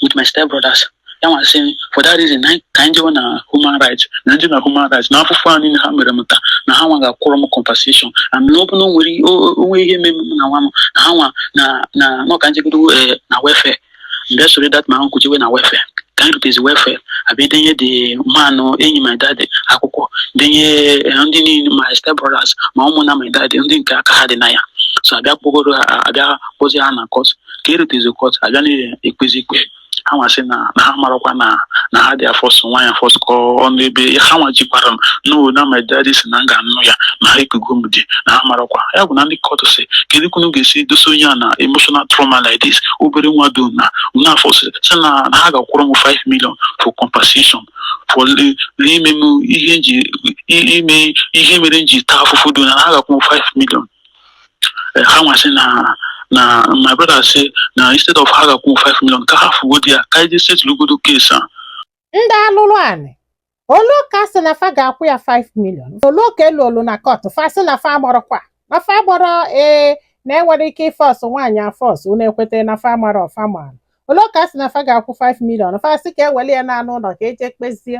with my step brothers ha nwa sị for that reason anyị- ka anyị jewe na human rights na ndị na human rights na afụfụ a niile ha mere m taa na ha nwa ga-akwụrụ m compensation and na ọ bụ na o nwere ihe- o- o- onwe ihe mere m na nwa m na ha nwa na na no ka njegodo eh, na welfare mgbe soro that my uncle jewe na welfare ka anyị rutezi welfare abịa denye the man enyi my daddy akwụkwọ denye eh, ndị niile my step brothers ma ụmụnna my daddy ndị nke aka ha dị na ya so abịa kpọgoro ha abịa kpọzie ha na court ka erutezi court abịa na-ekpezi ikpe ha nwa sị na na ha amarọkwa na na ha dị afọsụ nwaanyị afọsụ ka ọ nụ ebe ha nwa jikwara m no na my daddy sị na m ga-anụ ya na ha ekugo m di na ha amarọkwa ya bụ na ndị court sị kedu ka unu ga-esi dosa onye a na emotional trauma like this obere nwa do unu na-afọsụ sị na na ha ga-akwụrụ m 5 million for compensation for le- n'ime m ihe nji i- ime ihe mere m ji taa afụfụ do na na ha ga-akwụ m 5 million eh, ha nwa sị na na my brother sị na instead of ha ga-akwụ 5 million ka a hafụgodi ya ka e je setụlugodo case a ndị alụrụ anị o lu ka a sị na fa ga-akwụ ya 5 million o lu ka e lulu na court fa sị na fa amarọkwa na fa amarọ ee na enwere ike ịfọsụ nwaanyị afọsụ unu ekweta na fa amarọ fa mara o lu ka a sị na fa ga-akwụ 5 million fa sị ka eweli ya naa n'ụlọ ka eje kpezie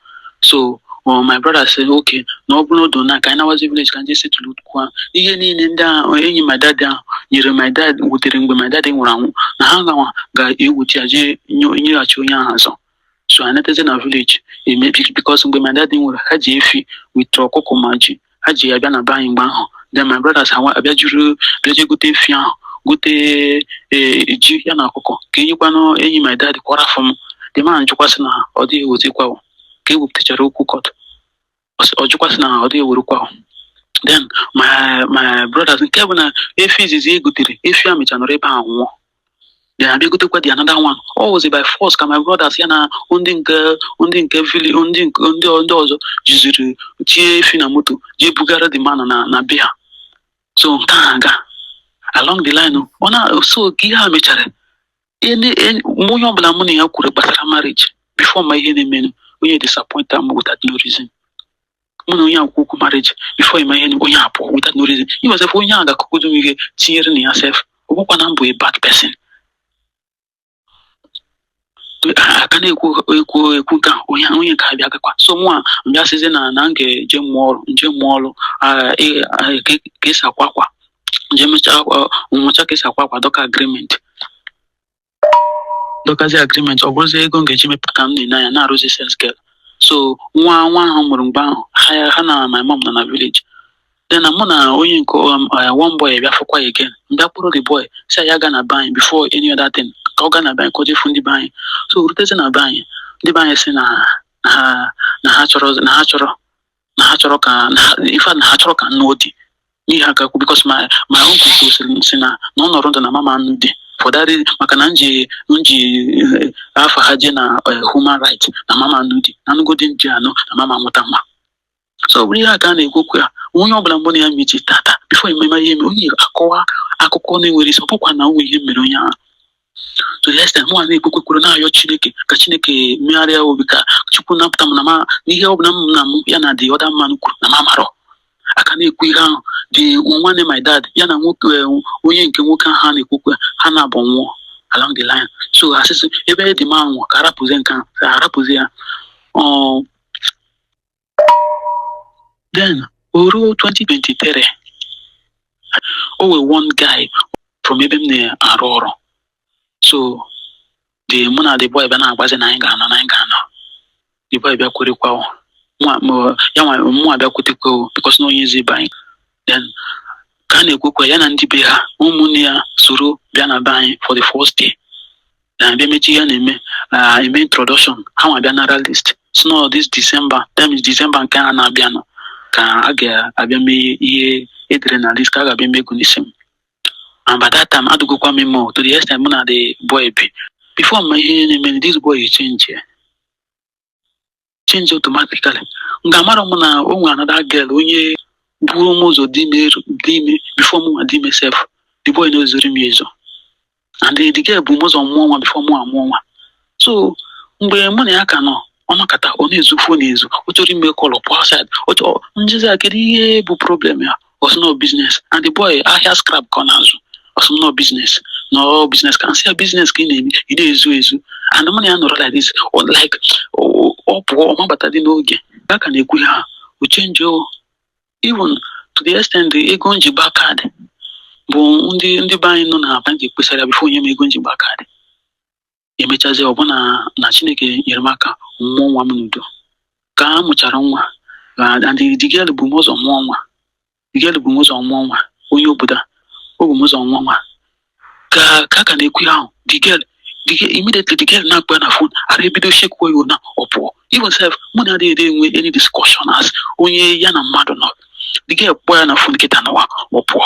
so ọ my brother sị okay na ọ bụrụ odo na ka anyị nawazi village ka e je setụlụkwa ihe niile ndị ahụ enyi my dad ahụ nyere my dad wutere mgbe my dad nwụrụ anwụ na ha nwa ga-ewuchi ya jee nye- nyeghachi onye ahụ azọ so anatazi na village emebi because mgbe my dad nwụrụ ha ji efi with ọkụkọ ma ji ha ji ya bịa na be anyị mgbe ahụ then my brothers ha nwa- abịa juru bịa jee gote efi ahụ gote ee, ji ya na ọkụkọ ka enyekwanụ enyi my dad kwara afọ m the man jụkwa sị na ọ dịghị ewezikwa o. ka e wepụtachara okwu court ọ sị- ọ jụkwa sị na ọ dịghị ewerekwa o. then my my brothers nke bụ na efi izizi e gotere efi a mecha nọrọ ebe ahụ nwụọ then abịa gotekwa the another one ọ wụzi by force ka my brothers ya na ndị nke ndị nke vili ndị nke ndị ndị ọzọ jiziri tie efi na moto jee bugara the man na na be ha so nke a aga along the line ọ na so ka ihe a mechara ihe ni- e- mgbe onye ọbụla mụ na ya kwuru gbasara marriage before ịma ihe na-emenụ onye disappointie m without no reason mụ na onye a kwuo okwu marriage before ịma ihe na onye a pụọ without no reason even sef onye a ga-akụkụdo m ihe tinyere na ya sef o kwukwa na m bụ a bad person a ka na-ekwu ekwu ekwu ka onye onye nke abịa gakwa so mụnwa bịa sịzi na na m ga-eje mụọ ọrụ nje mụọ ọrụ ah, eh, ah, ka ka esi akwa akwa nje mechaa akwa- mụcha ka esi akwa akwa dọka agreement dọkazie agreement ọ bụrụzi ego m ga-eji mepụta ka m na-enye anya na-arụzi sales girl so nwa nwa ahụ m mụrụ mgbe ahụ ha ya ha na my mom nọ na village then na mụ na onye nke um, uh, one boy bịa fụkwa again m bịa kpọrọ the boy sị ya gaa na be anyị before any other thing ka ọ gaa na be anyị ka o je fụ ndị be anyị so rutezi na be anyị ndị be anyị sị na ha na ha chọrọ na ha chọrọ na ha chọrọ ka na ha- in fact na ha achọrọ ka m nụọ di n'ihe a ka kwu because my my uncle gwasịrị m sị na na ọ nọrọ ndụ na m ama-anụ di for that reason maka na m ji m ji eh, afa ha je na eh, human right na m ama-anụ di na m nụgo di m ji anụ na m ama-amụta nwa so ọ bụrụ ihe a ka a na-ekwu okwu ya onye ọbụla mgbe na ya mechi tata before ememe ihe mere onye akọwa akụkọ na-enwerọ isi ọ bụkwa na o nwere ihe mere onye ahụ to the extent mụ nwa na-ekpe ekpere na-ayọ chineke ka chineke megharịa obi ka chukwu napụta m na ma n'ihe ọ bụla m na m ya na the other man kwuru na m amarọ a ka na-ekwu ihe ahụ the nwanne my dad ya na nwoke eh, onye nke nwoke ahụ ha na-ekwukọ ha naabọ nwụọ along the line so a sị sị ebe the man nwụọ ka a rapụzie nke ahụ ka a rapụzie ya Ọ, then o ruo 2023 o nwee one guy from ebe m na-arụ ọrụ so the mụ na the boy bịa na-akpazi na anyị ga-anụ na anyị ga-anụ the boy bịa kwerekwa o. Mụ- mụ- ya nwa mụ abịa kwetekwa o because na onye ezi be anyị then ka a na-ekwukwa ya na ndị be ha ụmụnne ya soro bịa na be anyị for the first day then a bịa mechaa ihe a na-eme ah, eme introduction ha nwa bịa nara list sị na ọ this December that means December nke a na-abịanụ ka a ga-abịa mee ihe e dere na list ka a ga-abịa mee ego n'isi m and by that time adụgokwa m ime o, to the extent mụ na the boy bi before m ma ihe na-eme this boy chenjie change automatically nga mara m na o nwere another girl onye buo m ụzọ dị ime eru- dị ime before mụ nwa dị ime sef the boy na-ezoro m ya ezo and the girl bu m ụzọ mụọ nwa before mụ amụọ nwa so mgbe mụ na ya ka nọ ọ nọkata ọ na-ezo phone ezo ọ chọrọ ime call ọ pụọ outside m jụzie ya kedu ihe bụ problem ya ọ sị na ọ business and the boy ahịa scrap ka ọ na-azụ ọ sị m na ọ business na ọ business ka m sị ya business ka ị na-eme ị na-ezo ezo and mụ na ya nọrọ like this ọ like ọ- ọ pụọ ọ ma-abatadị n'oge a ka na-ekwu ihe a o chenjie o even to the extent ego m ji gbaa card bụ ndị ndị be anyị nọ n'Aba ka m kpesara before o nye m ego m ji gbaa card e mechazie ọ bụ na Chineke nyere m aka m mụọ nwa m n'udo ka a mụchara nwa and the girl bu m ụzọ mụọ nwa the girl bu m ụzọ mụọ nwa onye obodo a o bu m ụzọ mụọ nwa ka ka ka na-ekwu ya ahụ the girl the girl immediately the girl na-akpọ ya na phone arụ ebido shekwa ya na ọ pụọ even self mụ na ya adịghị enwe any discussion as onye ya na mmadụ nọ the girl kpọọ ya na phone kịta nwa a ọ pụọ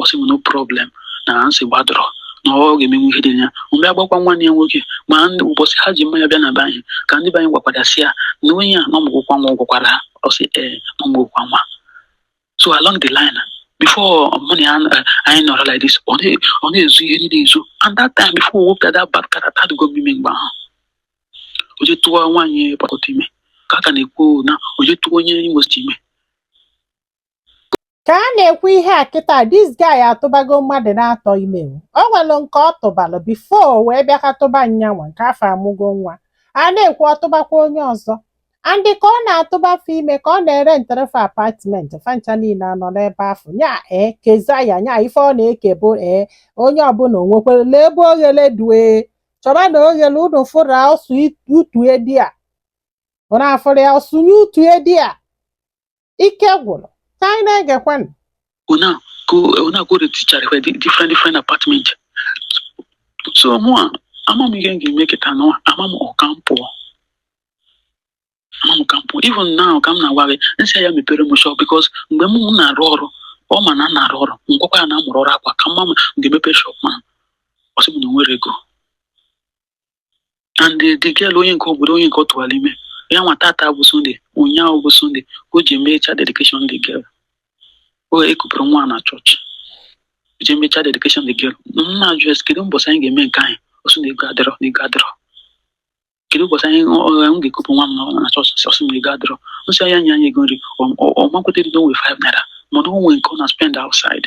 ọ sị m no problem na nsogbu adịrọ na ọ ga-emenwu ihe dị ya m bịa gwakwa nwanne ya nwoke ma ndị ụbọchị ha ji mmanya bịa na be anyị ka ndị be anyị gwakwara sị ya na onye a na ọ mụgokwa nwa ọ gwakwara ha ọ sị ee na ọ mụgokwa nwa so along the line before mụ na ya eh, anyị nọrọ like this ọ na- ọ na-ezo ihe niile ezo and that time before o wepụta that bad character adịgo m ime mgbe ahụ o je tụọ nwaanyị port harcourt ime ka a ka na-ekwu na o je tụọ onye imo state ime ka a na-ekwu ihe a kịta this guy atụbago mmadụ na-atọ ime o nwere nke ọ tụbalụ before wee bịa ka tụba nyanwa nke afụ amụgo nwa a na-ekwu ọ tụbakwa onye ọzọ and ka ọ na-atụba fe ime ka ọ na-erentere fe apartment fa ncha niile anọ n'ebe afụ nya ee keza ya nya ife ọ na-eke bụ ee onye ọbụla o nwekwere lee ebe oghele due chọba na oghele unu fụrụ ọ sụ utu e there unu afụrụ ya ọ sụnye utu e there ike gwụrụ ka anyị na-egekwanụ ọ na-aga ọ na-aga erenticharị fe di different different apartment so mụwa ama m ihe m ga-eme kịta na ama m ọ ka m pụọ ama m ka m pụọ even now ka m na-agwa gị m sị ya mepere m shop because mgbe m m na-arụ ọrụ ọ ma na m na-arụ ọrụ m gwakwa ya na m mụrụ ọrụ akwa ka m ma m ga-emepe shop ma ọ sị m na o nwerọ ego and the the girl onye nke obodo onye nke ọ tụwara ime ya nwa tata bụ sunday ụnyaahụ bụ sunday o ji eme child dedication the girl o kupụrụ nwa na church o ji eme child dedication the girl m na-ajụ ya sị kedu mbọsị anyị ga-eme nke anyị ọ sị na ego adịrọ na ego adịrọ kedu ụbọchị anyị ọ- ọ- m ga-ekupụ nwa m na- na church sị, ọ sị na ego adịrọ m sị ya nye anyị ego nri ọ- ọ- ọ makwụta ego o nwe 5 naira mana o nwee nke ọ na spend outside